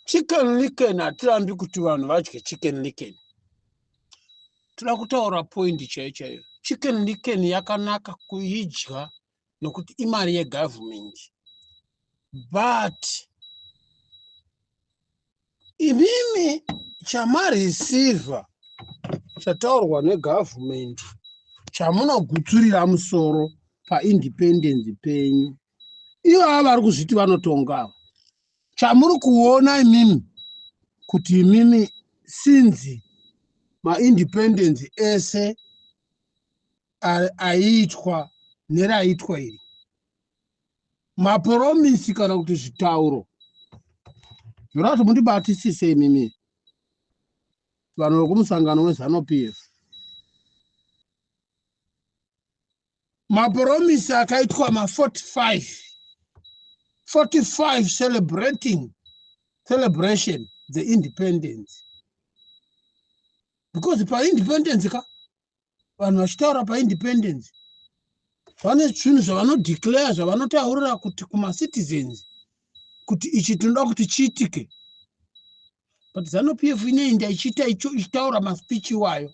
chicken licken hatirambi kuti vanhu vadye chicken licken toda kutaura poindi chaiyo chaiyo chicken licken yakanaka kuidya nokuti imari yegovernment but imimi chamareceiver chataurwa negovernment chamunogutsurira musoro paindependence penyu ivo ava vari kuzviti vanotonga ava chamuri kuona imimi kuti imimi sinzi maindependence ese aiitwa neraiitwa iri maporomisi kana kuti zvitauro zvinoda kuti mundibatisise imimi vanhu vekumusangano wezanupf maporomisi akaitwa ma45 45 celebrating celebration the independence because paindependence ka vanhu vachitaura paindependence vane zvinhu zvavanodeclare zvavanotaurira kuti kumacitizens kuti ichi tinoda kuti chiitike but zanu p f ineinda ichiita icho ichitaura maspeech iwayo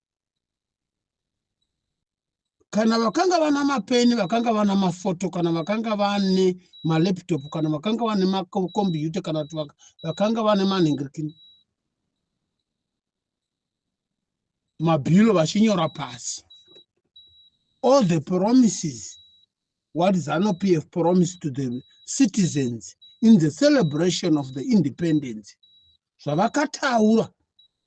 kana vakanga vana mapeni vakanga vana mafoto kana vakanga vane malaptop kana vakanga vane makombiyuta kana kuti vakanga vane manhingirikini mabhilo vachinyora pasi all the promises what zanu p f promised to the citizens in the celebration of the independence zvavakataura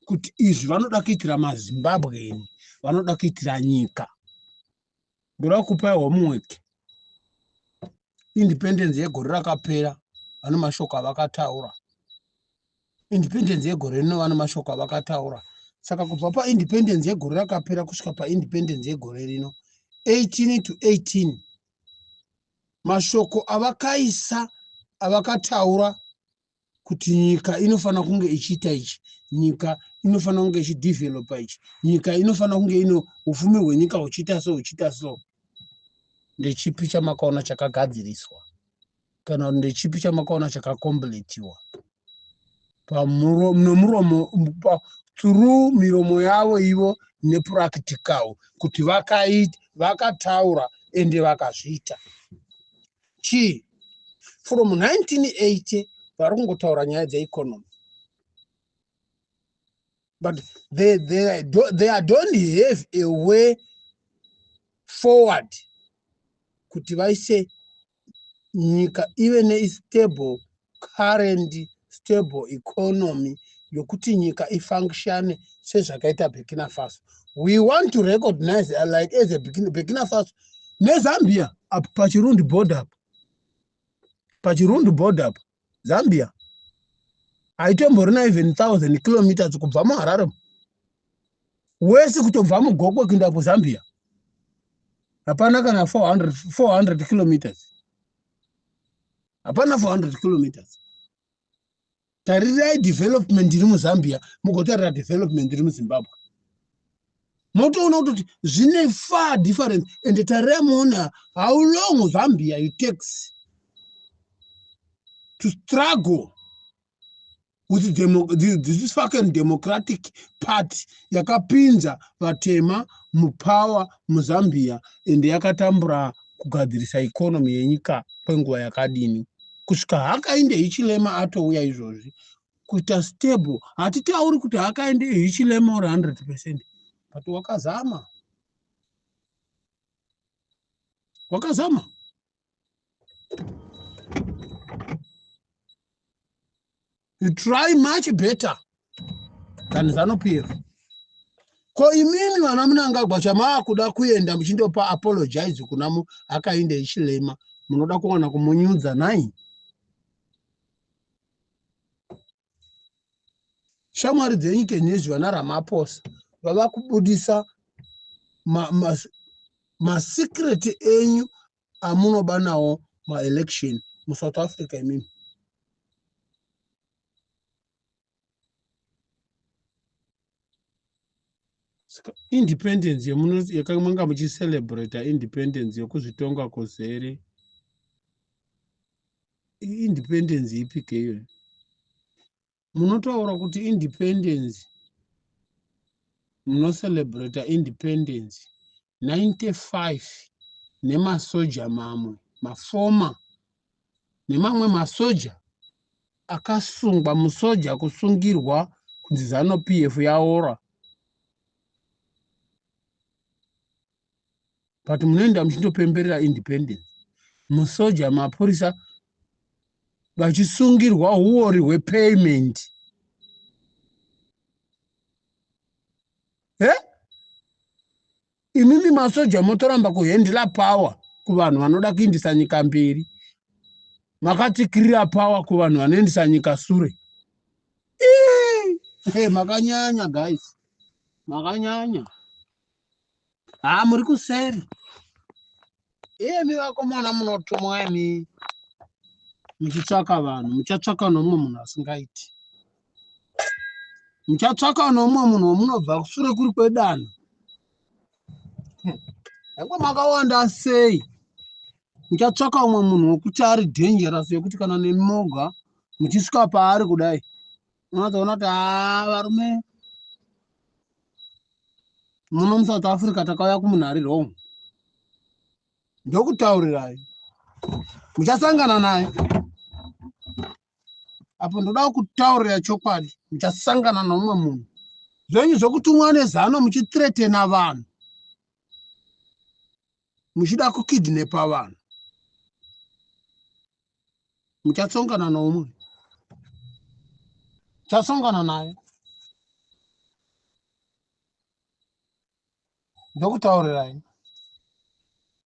kuti izvi vanoda kuitira mazimbabweni vanoda kuitira nyika ndoda kupa homework independence yegore rakapera vane mashoko avakataura independence yegore rino vane mashoko avakataura saka kubva paindependence yegore rakapera kusvika paindependence yegore rino 18 to 18 mashoko avakaisa avakataura kuti nyika inofanira kunge ichiita ichi nyika inofanira kunge ichidevelopa ichi nyika inofanira kunge ino upfumi hwenyika huchiita so huchiita so ndechipi chamakaona chakagadziriswa kana ndechipi chamakaona chakakompletiwa nomuromo through miromo yavo ivo nepractical kuti vakaita vakataura ende vakazviita chii from 1980 vari kungotaura nyaya dzeeconomy but they, they, they don't have a way forward kuti vaise nyika ive nestable current stable economy yokuti nyika ifunctione sezvakaita burkina faso we want to recognize uh, like as a burkina faso nezambia apo pachirundi border apo pachirundi border apo zambia haitomborina even thousand kilometers kubva muharare wese kutobva mugokwe kuinda kuzambia hapana kana 400 kilometers hapana 400 kilometers tarirai development iri muzambia mugotarira development iri muzimbabwe motoona kutoti zvine far difference and tarirai moona how long zambia you takes to struggle with demo, this fucking democratic party yakapinza vatema mupower muzambia and yakatambura kugadzirisa economy yenyika kwenguva yakadini kusvika hakainde hichilema atouya izvozvi kuita stable hatitauri kuti hakainde hichilema uri 100 percent but wakazama wakazama you try much better than zanupf ko imimi vana munangagwa chamaakuda kuenda muchindopa apologize kuna mu akainde ichilema munoda kuwana kumunyudza nai shamwari dzenyu kenhezvi vana ramaposa vava kubudisa masecret ma, ma enyu amunoba nawo maelection musouth africa imimi saka independence yakamanga muchicelebrata independence yokuzvitonga kozere independence ipi ke iyoyo munotaura kuti independence munocelebrata independence 95 nemasoja mamwe mafoma nemamwe masoja akasungwa musoja kusungirwa kunzi zanu pf yaora but munoenda muchindopemberera independence musoja mapurisa vachisungirwa huori hwepayment he imimi masoja motoramba kuhendila power kuvanhu vanoda kuindisa nyika mberi makatikirira power kuvanhu vanoendisa nyika sure hey, makanyanya guys makanyanya haa muri kuseri iyemi vakomana munotumwa imi muchitsvaka vanhu muchatsvaka nomumwe munhu asingaiti muchatsvaka nomumwe munhu wamunobva kusure kuri kwedanho yange makawanda sei muchatsvaka umwe munhu wekuti ari dangerous yekuti kana nemimoga muchisvika paari kudai unotoona kuti haa varume muno musouth africa takauya kumunhari wrong ndokutaurirai muchasangana naye apo ndoda kutaurira chokwadi muchasangana noumwe munhu zvenyu zvokutumwa nezano muchitretena vanhu muchida kukidnepa vanhu muchatsongana noumwe chasongana naye ndokutaurirai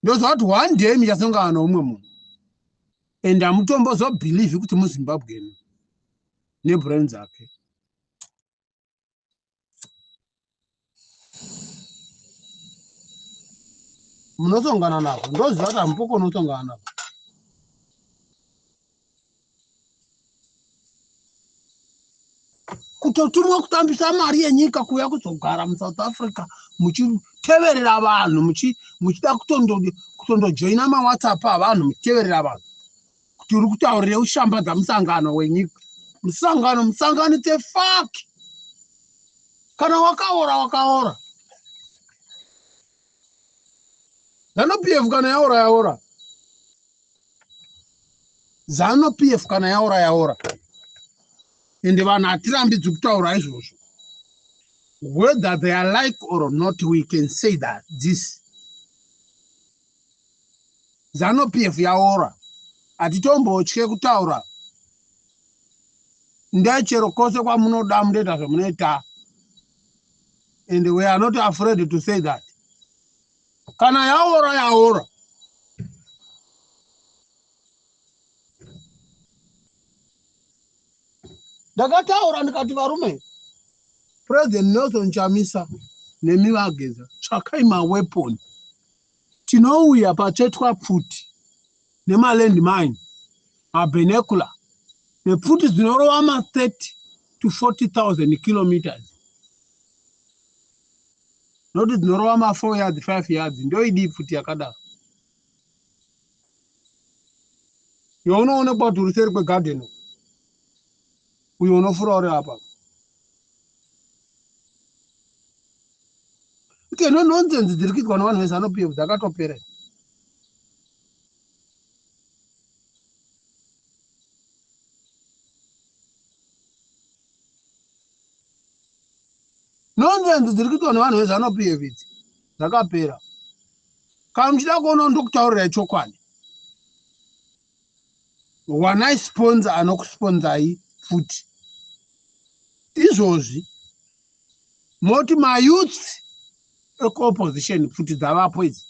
ndozvati one day michasongana noumwe munhu and hamutombozobhilivhi kuti muzimbabweni nebrain dzake munotongana navo ndoziva kuti hamupoko unotongana navo kutotumwa kutambisa mari yenyika kuuya kuzogara musouth africa muchiteverera vanhu muchida kutondojoina mawhatsapp avanhu muchiteverera vanhu kuti uri kutaurire ushambadza musangano wenyika musangano musangano the fuck kana wakaora wakaora zano p f kana yaora yaora zano p f kana yaora yaora ende vanhu hatirambidzwi kutaura izvozvo whether they are like or not we can say that this Zanu PF yaora hatitombotye kutaura ndechero kose kwamunoda munoita zvamunoita and we are not afraid to say that kana yaora yaora ndakataura ndikati varume president nelson chamisa nemi vageza tsvakai maweponi Tinouya patsvetwa pfuti nemaland mine, mabinocular nepfuti dzinorova ma 30 to 40,000 kilometres not dzinorova ma 4 yards 5 yards ndoidii pfuti yakadaro yaunoonekwa kuti uri seri kwegarden uko. Uyo unofura uri apa. Kuti no nonsense dziri kuitwa nevanhu vezano PF dzakatopera. Nonsense dziri kuitwa nevanhu vezano PF idzi dzakapera. Kana muchida kuona ndokutaurira chokwadi. wanai sponza anokusponzai futi izvozvi moti mayouths ekuopposition futi dzavapo idzi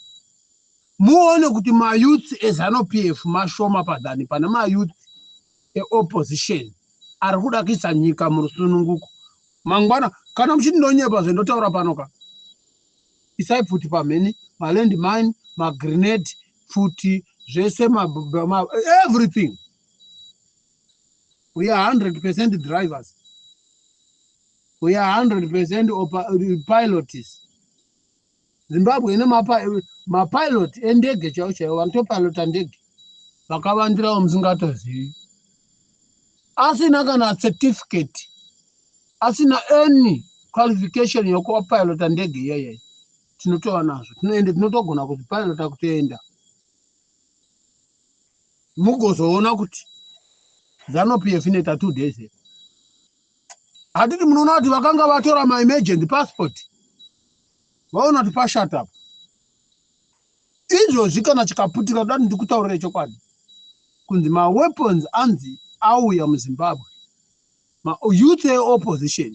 muone kuti mayouths ezanup f mashoma padhani pane mayouth eopposition ari kuda kuisa nyika murusununguko mangwana kana muchindonyepa zvendotaura panoka Isai pfuti pamhene, maland mine, magrenade, pfuti, zvese ma, ma, everything. We are 100% drivers. We are 100% uh, pilots. Zimbabwe ine mapilot ma endege chaiwo chaiwo vanotopilota ndege vakavandirawo musingatozivi. asina kana certificate asina any qualification yokuva pilota ndege iyoyoyo tinotova nazvo tinoende tinotogona kuti pilota kutoenda mugozoona kuti zano p f inoita two days here hatiti munoona kuti vakanga vatora maemergent passport vaona kuti pashatapo izvozvi kana chikaputira dani ndikutaurire chokwadi kunzi maweapons anzi auya muzimbabwe mayouth eopposition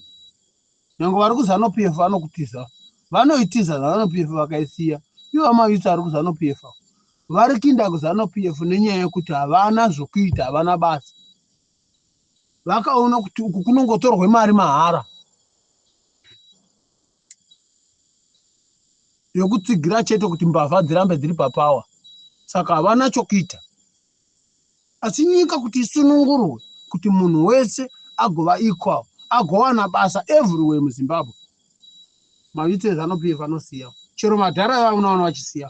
nyange vari kuzanupf vanokutiza vanoitiza zanupf vakaisiya ivo amayouth ari kuzanupf vari kinda kuzanupf nenyaya yekuti havana zvokuita havana basa vakaona kuti uku kunongotorwe mari mahara yokutsigira chete kuti mbavha dzirambe dziri papawa saka havana chokuita asi nyika kuti isunungurwe kuti munhu wese agova equal agowana basa everywhere muzimbabwe mavitso ezvanupiye vanosiya chero madhara ava unoona vachisiya